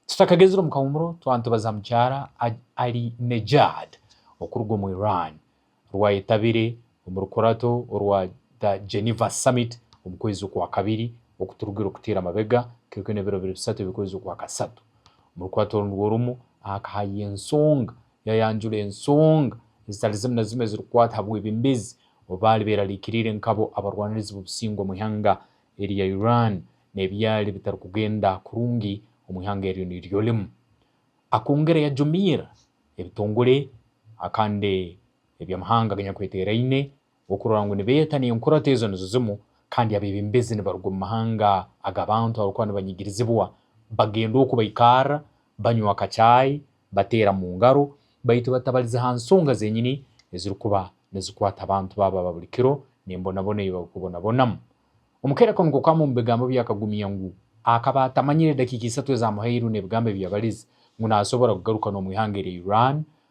Tutakagezire omu kahumuro twantubaza mukyara Ahlinejad okuruga omu Iran rwayetabire omu rukurato orwa The Geneva Summit omu kwezi okwa kabiri okuturugire okuteera amabega kwonka oine ebiro biri bisatu eby'okwezi okwa kasatu. Omu rukurato oru nirwo rumu aha kahayiha ensonga yayanjura ensonga ezitari zimu na zimu ezirikukwata aha bwebembezi obu baari berarikiriire nkabo abarwanirizi b'obusingwa omu ihanga erya Iran n'ebyali bitarikugenda kurungi omu ihanga eryo niryo rimu. Akongera yajumiira ebitongore akandi eby'amahanga aganyakweteeraine okurora ngu nibeeta n'enkurato ezo nizo zimu kandi abeebembezi nibaruga omu mahanga aga bantu abarikuba nibanyigirizibwa bagenda oku baikarra banywa akacaayi, bateera mu ngaro, baitu batabarize ha nsonga zenyini ezirikuba nizikwata abantu baabo aba buri kiro n'embonabona ei barikubonabonamu. Omukaire akanukukamu omu bigambo bye akagumya ngu akaba atamanyire edakiika isatu ezaamuhairwe n'ebigambo ebi yabarize ngu naasobora kugaruka n'omu ihanga erya Iran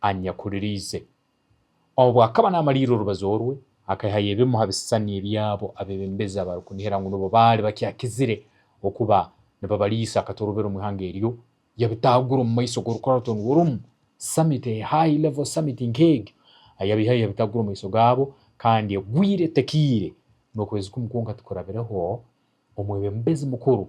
aha nyakuriraize. Obu akaba naamariirira orubazo orwe, akaihayo ebimu ha bisisani eby'abo abeebembezi abarikunihira ngu nibo baali bakyakizire okuba nibabariisa akatorobero omu ihanga eryo, yabitaagura omu maiso g'Orukoratooni W'orumu Summit, High Level Summit nk'egyo. Yabaihayo yabitaagura omu maiso gaabo, kandi egwire etekiire n'okwezi kumu kwonka tikurabireho, Omwebembezi Mukuru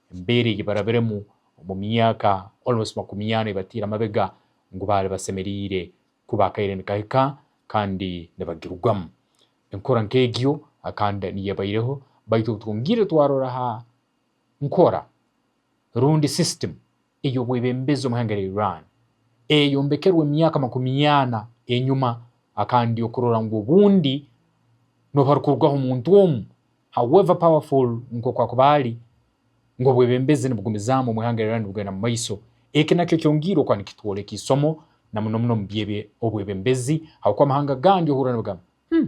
embeera ei barabiremu omu myaka almost makumi ana ebataire amabega ngu baari basemereire kuba akaire nikahika kandi nibagirugamu. Enkora nk'egyo akanda niyabaireho baitu obu twongiire twarora aha nkora rundi system, ey'obwebembezi omu ihanga rya Iran eyayombekerwa emyaka makumi ana enyuma akandi okurora ngu obundi nooba arikurugaho omuntu omu however powerful nk'oku akuba ari ngu obwebembezi nibugumizaamu omu ihanga rya Iran nibugenda mu maiso eki nakyo kyongiire okuba nikitworeka isomo na muno muno omu by'obwebembezi ahabw'okuba amahanga agandi ohurira nibagamba hmm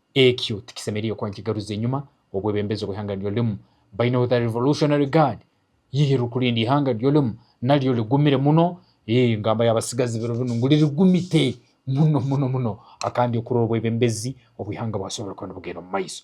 Ekyo tikisemeriire kuba nikigaruza enyima obwebembezi obw'eihanga ryolimu. By now the Revolutionary Guard iih rikurinda eihanga ryolimu naryo rigumire muno, iih ngamba y'abatsigazi biro binu ngu ririgumite muno muno muno, kandi okurora obwebembezi obw'eihanga bwasoborora kuba nibugyenda omu maiso.